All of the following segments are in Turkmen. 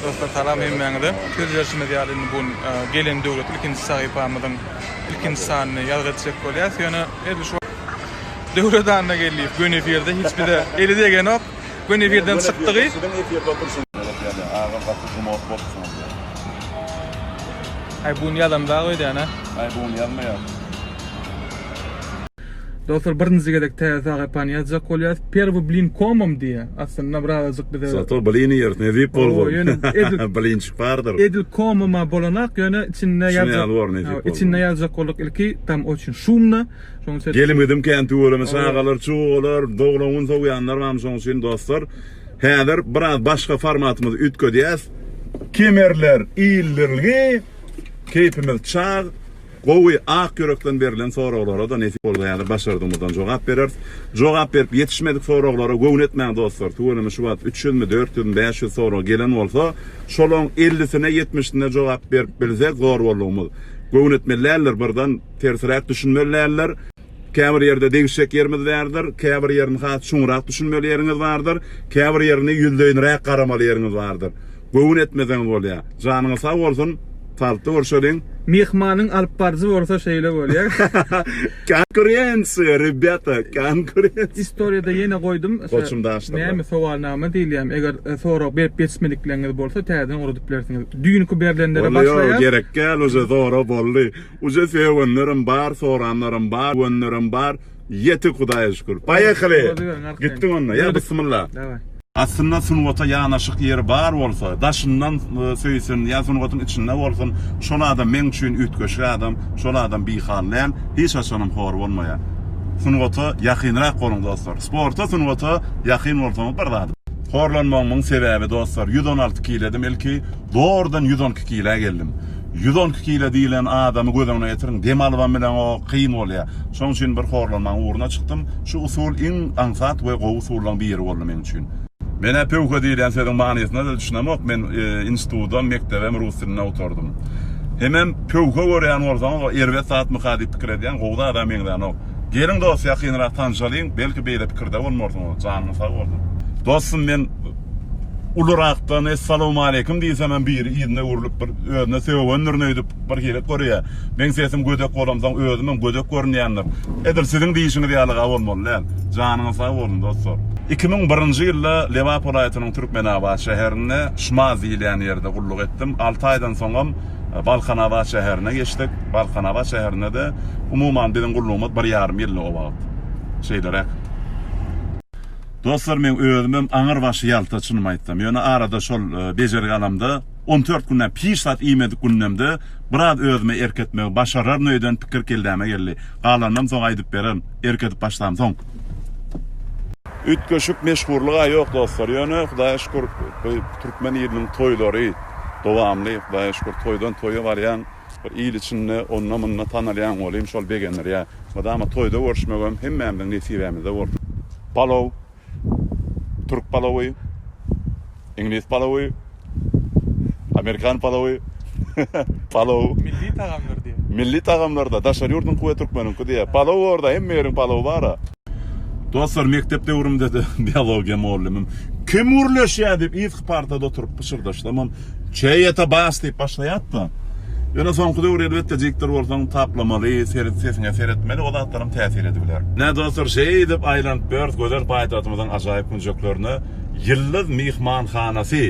Dostlar salam hemmäňize. Söz berşimiz ýaly indi bu gelen döwlet ilkinji sahypamyzyň ilkinji sanyny ýazgy etjek bolýas. Ýöne edil şu Döwlet Anna gelýär. Gün efirde hiç bide eli degenok. Gün efirden çykdygy. Siziň efirde oturşyň. Agam gaty gumot bolupsyňyz. Aý bun ýazandag öýdýän-ä. Aý bun ýazmaýar. Dostlar birinji gezek täze sahypany ýazjak bolýas. Perwy blin komom diýýä. Aslynda bir azajyk bize. Sato blini ýer nesip bolgun. Blinçik bardyr. Edil komoma bolanak ýöne içinde ýazjak. Şuny alyp nesip bolgun. İçinde ýazjak bolduk ilki tam oçin şumna. Şoň üçin. Gelim-gidim kän tüweleme çagalar, çugalar, doglan gün sowýanlar barmy şoň üçin dostlar. Häzir biraz başga formatymyzy üýtgedýäs. Kemerler ildirilgi. Keýpimiz çag. Gowy, ak ýürekden berlen soraglara-da nesip bolsa ýaly başardygymyzdan jogap bereris. Jogap berip ýetişmedik soraglara göwün etmäň dostlar, tüweleme şu wagt üç ýüzmi, dört ýüzmi, bäş ýüz sorag gelen bolsa, şolaň ellisine, ýetmişine jogap berip bilsek zor boldugymyz. Göwün etmeli däldir, birden tersiräk düşünmeli däldir. Käbir ýerde degişjek ýerimiz bärdir, käbir ýerini has çuňrak düşünmeli ýeriňiz bardyr, käbir ýerini ýüzleýinräk garamaly ýeriňiz bardyr. Göwün etmeseňiz bolýar. Janyňyz sag bolsun, talypda görşeliň. Myhmanyň alyp baryjy bolsa şeýle bolýar. Konkurensiýa, rebýata, konkurensiýa. Istoriýada ýene goýdum. Goçum daşda. Näme sowalnama diýilýärmi? Eger sorag berip ýetişmedikleriňiz bolsa täzeden ugradip bilersiňiz. Düýnki berlenlere başlaýas. Ýok, ýok, gerek däl, uje zora boldy. Uje söýenlerim bar soranlarym bar göenlerim bar ýetik hudaýa şükür paýehaly gitdik onda ýa bysmylla. Daway. Aslynda sungata ýanaşyk ýeri bar bolsa, daşyndan söýsün ýa sungatyň içinde bolsun, şol adam meň üçin üýtgeşik adam, şol adam bihal däl, hiç haçanam hor bolmaýar. Sungata ýakynrak boluň dostlar. Sporta sungata ýakyn bolsaňyz bir zat. Horlanmagymyň sebäbi dostlar ýüz on alty kiledim ilki, zordan ýüz on iki kilä geldim. Ýüz on iki kilo diýlen adamy göz öňüne getiriň, dem alybam bileňok, kyn bolýar. Şoň üçin bir horlanmagyň ugruna çykdym. Şu usul iň aňsat we gowy usullaryň biri boldy meň üçin. Men-ä pöwhe diýilýän sözüň manysyna-da düşünemok, men institutydam, mekdebem rus dilinde oturdym. Hemem pöwhe görýän bolsaňyz, ol erbet zatmyka diýip pikir edýän, gowy zada meňzänok. Geliň dos ýakynrak tanşalyň belki beýle pikirde bolmarsyňyz janyň sag bolsun. Dostum men ulurakdan Essalawmaleýkim diýsem hem biri yzyna öwrülip bir özüne sögündirin öýdüp bir hili görýä. Meň sesim gödek bolamsoň özüm hem gödek görünýändir. Edil siziň diýişiňiz ýalyga bolmaly däl. Janyňyz sag bolsun dostlar. Iki müň birinji ýylda Lebap welaýatynyň Türkmenabat şäherinde Şmaz diýilýän ýerde gulluk etdim. Alty aýdan soňam Balkanabat şäherine geçdik. Balkanabat şäherinde-de umuman biziň gullugymyz bir ýarym ýyldy o wagt. Şeýleräk. Dostlar, men özümem aňyr başy ýalta, çynymy aýtsam. Ýöne arada şol bejergi alamda, on dört günden hiç zat iýmedik gündemde biraz özüme erk etmegi başararyn öýden pikir kelläme geldi. Galanynam soň aýdyp bererin, erk edip başlamsoň. Üýtgeşik meşhurlyga ýok dostlar. Ýöne Hudaýa şükür, bu türkmen iliniň toýlary. dowamly hudaýa şükür toýdan toýa barýaň bir il içinde onda munda tanalýaň ol hem şol begendirýär. Mydama toýda görüşmegem hemmämiziň nesibämizde bolsun. Palow, türk palowy, iňlis palowy, amerikan palowy, palow. Milli tagamdyr diýýär. Milli tagamlarda daşary ýurduňky we türkmeniňki diýýär. Palow orda hemme ýeriň palowy bara. Dostlar, mekdep döwrümde-de biologiýa mugallymym, Kim gürleşýär? diýip, yzky partada oturyp pyşyrdaşsamam, Çeýe-te bas! diýip başlaýardy-da. Ýöne soňky döwür, elbetde, diktor bolsaň, taplamaly, sesiňe seretmeli, o zatlaram täsir edibiler. Ine, dostlar, şeýdip aýlanyp ýörüs gözel paýtagtymyzyň ajaýyp künjeklerine. Ýyldyz myhmanhanasy,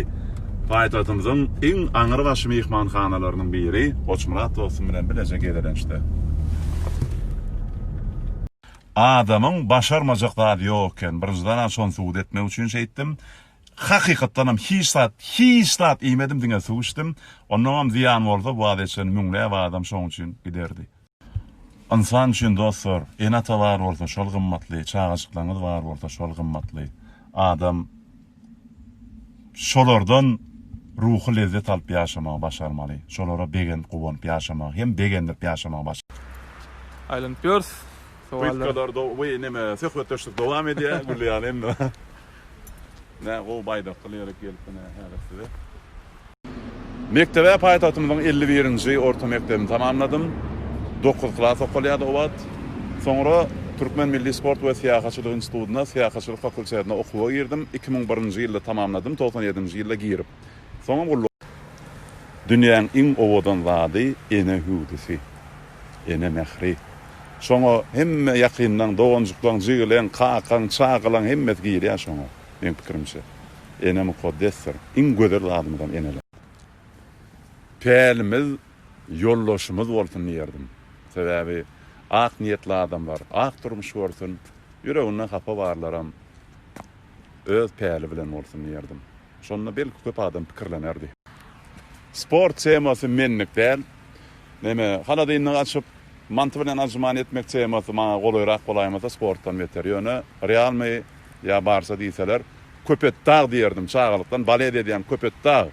paýtagtymyzyň iň aňrybaşy myhmanhanalarynyň biri. Goçmyrat dostum bilen bileje gezelençde. Adamyň başarmajak zady ýok eken. Birinjiden-ä şony subut etmek üçin şeýtdim. Hakykatdanam hiç zat, hiç zat iýmedim, diňe suw içdim. Ondanam zyýan bolsa, bu az eçen müňläp adam şoň üçin giderdi. Ynsan üçin dostlar, ene-ata bar bolsa, şol gymmatly, çagajyklaryňyz bar bolsa, şol gymmatly. Adam. şolardan ruhy lezzet alyp ýaşamagy başarmaly, şolara begenip guwanyp ýaşamagy hem begendirip ýaşamagy baş. Aýlanyp ýörüs. Sowallar. Weý neme söhbetdeşlik dowam edýä gülýän indi. Nä gowy baýdakly ýere gelipmi nä häzir size. Mekdebe paýtagtymyzyň elli birinji orta mekdebini tamamladym. Dokuz klas okalýardy o wagt. Soňra Türkmen milli sport we syýahatçylyk institutyna, syýahatçylyk fakultetine okuwa girdim. Iki müň birinji ýylda tamamladym, togsan ýedinji ýylda girip, soňam gulluk. Dünýäň iň owadan zady, ene hüwdüsi, ene mähri. Şoňa hemme ýakynlaň, doganjyklaň, jigileň, kakaň, çagalaň hemmesi girýär şoňa. Meň pikirimçe. Ene mukaddesdir. Iň gözel zadymyzam eneler. Pälimiz ýoldaşymyz bolsun diýerdim. Sebäbi ak niýetli adamlar ak durmuş görsün, ýüreginde hapa barlaram öz päli bilen bolsun diýerdim. Şonda belki köp adam pikirlenerdi. Sport temasy menlik däl. Näme, haladynlygy açyp, manty bilen anjuman etmek temasy maňa golaýrak bolaýmasa sportdan beter. Ýöne realnyý. ýa barsa diýseler Köpetdag diýerdim çagalykdan balet edýän Köpetdag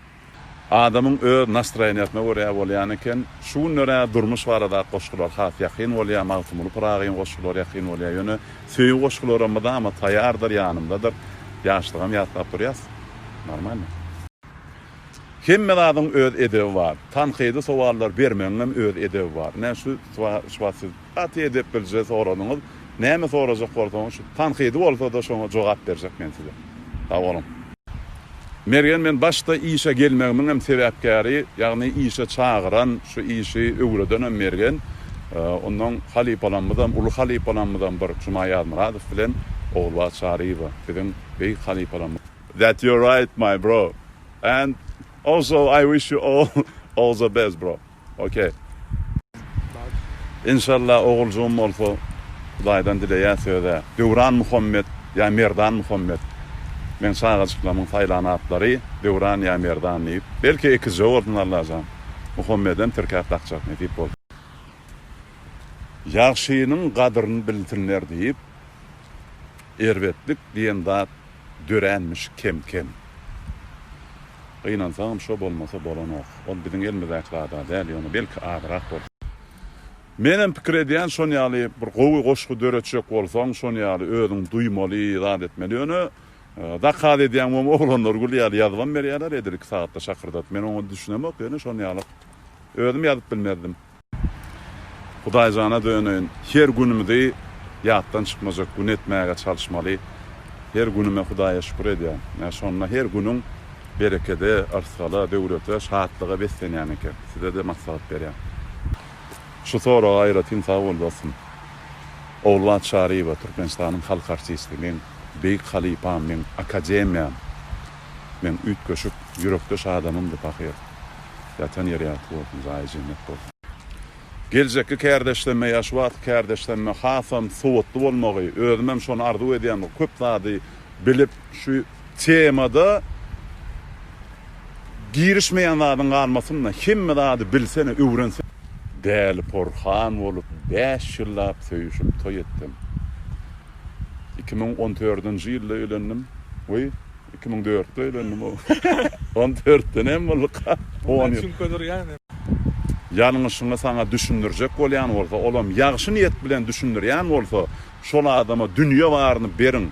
adamyň öz nastroýeniýasyna görä bolýan eken şu günlerä durmuş baradaky goşgular has ýakyn bolýa Magtymguly Pyragyň goşgulary ýakyn bolýa ýöne söýgi goşgularam mydama taýýardyr ýanymdadyr ýaşlygam ýatlap durýas normalno. Hemme zadyň öz edebi bar. Tankydy sowallar bermegiňem öz edebi bar. Ine şu wagt siz Gaty edep bilje soranyňyz. Näme sorajak bolsaňyz şu tankydy bolsada şoňa jogap berjek men size. Sagboluň. Mergen men başda işe gelmegimiň hem sebäpkäri ýagny işe çagyran şu işi öwredenem Mergen ondan halypalamyzam uly halypalamyzam bir Juma Ýazmyradow bilen Ogulbagt Çaryýewa biziň beýik halypalamyz. That your right my bro and also I wish you all all the best bro. Ok. Enşalla oguljygym bolsa hudaýdan dileýäs özä. Döwran Muhammet ýa Merdan Muhammet. Meň çagajyklamyň saýlan atlary Döwran ýa Merdan diýip. Belki ekizje bolsun Allajan. Muhammedem tirkäp dakjak nesip bolsa. Ýagşynyň gadyryn bilsinler diýip. Erbetlik diýen zat döränmiş kem-kem. Gynansaňam şo bolmasa bolanok. Ol biziň elimizdäki zad-a däl, ýöne belki azrak bolsa. Menem pikir edýän şon ýaly bir gowy goşgy döretjek bolsaň şon ýaly özüň duýmaly zat etmeli ýöne zakaz edýäň bomy oglanlar gül ýaly ýazybam berýäler edil iki sagatda şakyrdadyp men oňa düşünemok ýöne şon ýalyk özüm ýazyp bilmezdim. Hudaýjana döneýin, her günümizi ýatdan çykmajak gün etmäge çalyşmaly. Her günüme Hudaýa şükür edýän. Ine, şonda her günüň berekede, yrsgala, döwlete, şatlyga beslenýän eken. Size-de maslahat berýän. Şu soraga aýratyn sag bol, dostum. Ogulbagt Çaryýewa, Türkmenistanyň halk artisti, meň beýik halypam, meň akademiýam, meň üýtgeşik, ýürekdeş adamymdy pahyr. Ýatan ýeri ýagty bolsun, jaýy jennet bolsun. Geljekki kärdeşlenme ýa şu wagtky kärdeşlenme hasam sowatly bolmagy, özümem şony arzuw edýän köp zady bilip şu temada girişmeýän zadyň galmasynda hemme zady bilsene öwrensene. Däli porhan bolup bäş ýyllap söýüşip toý etdim. Iki müň on dördünji ýylda öýlendim we. Iki müň dörtde öýlendim o. On dörtde näme bolduka? Ony Çünke durýan. Ýalňyşyňy saňa düşündirjek bolýan bolsa, olam ýagşy niýet bilen düşündirýän bolsa, şol adama dünýe baryny beriň.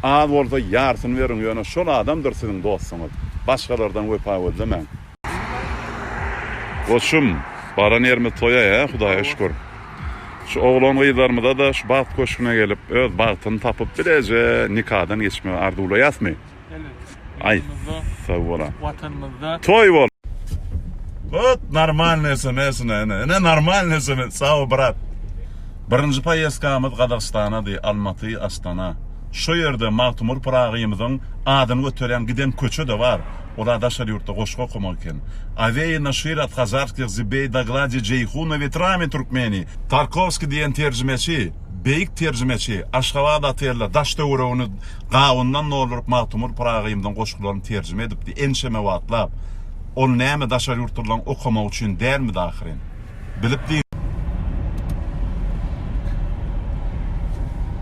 Az bolsa ýarsyny beriň, ýöne şol adamdyr siziň dostuňyz. Başgalardan wepa gözlemäň. Goçum baran ýerimiz toýa hä hudaýa şükür. Şu oglan gyzlarymyzada şu bagt köşgüne gelip öz bagtyny tapyp bileje nikadan geçmegi arzuwlaýasmy? Elbetde. Aý sag bola. Watanymyzda. Toý bol. Hut normalnyý sms ine ine ine normalnyý sms saw brat. Birinji poýeskamyz Gazagystanady Almaty Astana. Şo ýerde Magtymur Pyragymyzyň adyny göterýän giden köçe de bar. Olar daşary ýurtda goşgy okamak eken. Awei Naşir at Kazarskih Zibei Daglaji Jeýhuna Wetrami Türkmeni, Tarkowski diýen terjimeçi, beýik terjimeçi, Aşgabat Atella daş töweregini gawundan dolduryp Magtymgul Pyragymyzyň goşgularyny terjime edipdi ençeme wagtlap. Ol näme daşary ýurtlylaň okamagy üçin dälmidi ahyryn. Bilip diýip.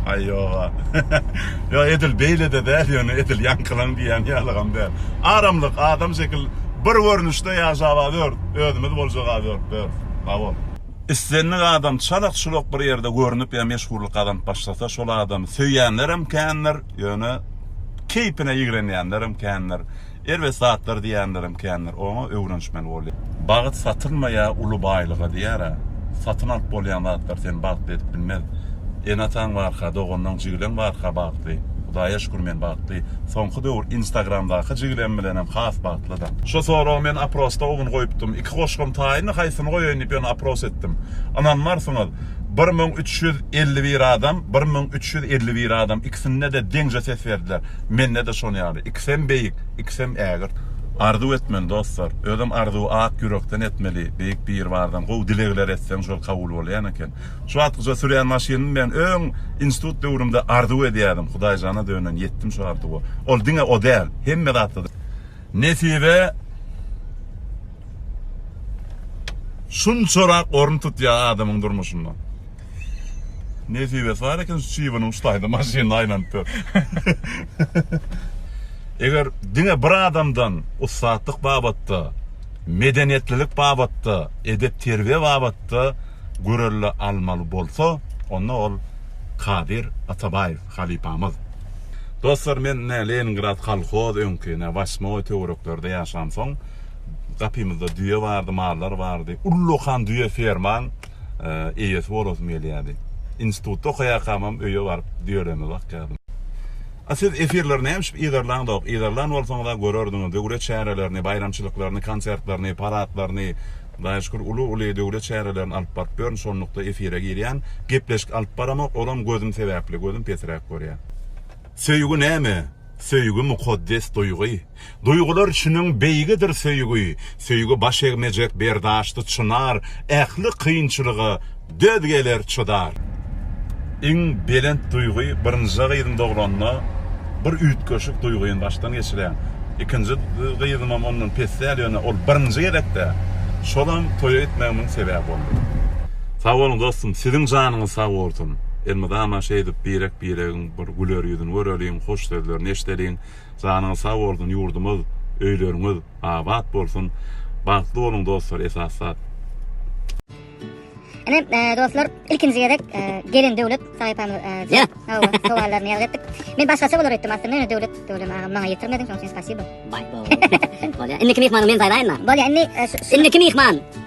Aý ýoga. Ýok edil beýlede däl ýöne edil ýaňkylaň diýýän ýalygam däl. Aramlyk adam şekil bir görnüşde ýaşaba dör özümiz boljaka dör dör. Sabol. Islendik adam çalak çulak bir ýerde görnüp ýa meşhurlyk gazanyp başlasa şol adamy söýýänlerem kändir ýöne keýpine ýigrenýänlerem kändir. Erbet zatlar diýýänlerem kändir, oňa öwrenişmeli bolýar. Bagt satylmaýar uly baýlyga diýýär-ä. Satyn alyp bolýan zatlar seni bagtly edip bilmez. Ene-ataň barka, doganlaň, jigileň barka bagtly. Hudaýa şükür men bagtly. Soňky döwür Instagramdaky jigilem bilenem has bagtlydam. Şu soragy men oprosda o gün goýupdym. Iki goşgam taýyndy, haýsyny goýaýyn diýip ýöne opros etdim. Ynanmarsyňyz, bir müň üç ýüz elli bir adam, bir müň üç ýüz elli bir adam ikisinde-de deňje ses berdiler. Mende-de şon ýaly. Ikisem beýik, ikisem ägirt. Arzuw etmeli dostlar. Özem arzuwy ak ýürekden etmeli. Beýik Biribardan gowy dilegler etseň şol kabul bolýan eken. Şu wagtkyça sürýän maşynym men öň institut döwrümde arzuw edýärdim. Hudaýjana dönen ýetdim şu arzuwa. Ol diňe o däl. Hemme zatda. Nesibe şunçarak orun tutýar adamyň durmuşynda. Nesibesi bar eken şu çybynyň uçdaýda maşynyny aýlanyp ýör. Eger diňe bir adamdan ussatlyk babatda, medeniýetlilik babatda, edep-terbiýe babatda görelde almaly bolsa, onda ol Kadyr Atabaýew halypamyz. Dostlar, men ine Leningrad kolhoz öňki ine Waşmoý töwereklerde ýaşansoň, gapymyzda düýe bardy, mallar bardy. Ullakan düýe fermaň. eýesi bolasym gelýärdi. Institutda okaýarkamam öýe baryp düýelerime bakýardym. A siz efirleri nämişip yzarlaňzok? Yzarlan bolsaňyzam görerdiňiz. Döwlet çärelerini, baýramçylyklaryny, konsertlerini, paradlaryny, Hudaýa şükür uly-uly döwlet çärelerini alyp baryp ýörün. Şonlukda efire girýän. Gepleşik alyp baramok. Olam gözüm sebäpli. Gözüm pesiräk görýär. Söýgi näme? Söýgi mukaddes duýgy. Duýgular çiniň beýigidir söýgi, Söýgi baş egmejek berdaşdy çynar, Ähli kynçylyga döz geler çydar. Iň belent duýgy birinjä gyzym doglanda bir üýtgeşik duýgyn başdan geçirýän. Ikinji gyzymam ondan pes däl ýöne ol birinji gezekde şolam toýa gitmegimiň sebäbi boldy. Sag boluň dostum siziň janyňyz sag bolsun. Elmydama şeýdip birek biregiň bir güler ýüzüni göreliň, hoş sözlerini eşdeliň. Janyňyz sag bolsun ýurdumyz öýleriňiz abat bolsun bagtly boluň dostlar esas zat. Ine dostlar ilkinji gezek gelin Döwlet sahypamyz hawa sowallaryny ýazgy etdik. Men başgaça bolar öýtdüm aslynda ýöne Döwlet Döwlem agam maňa ýetirmediň şoň üçin spasibo. Baý bo. Bolýa. Indiki myhmany men saýlaýynma. Bolýa indi indiki myhman.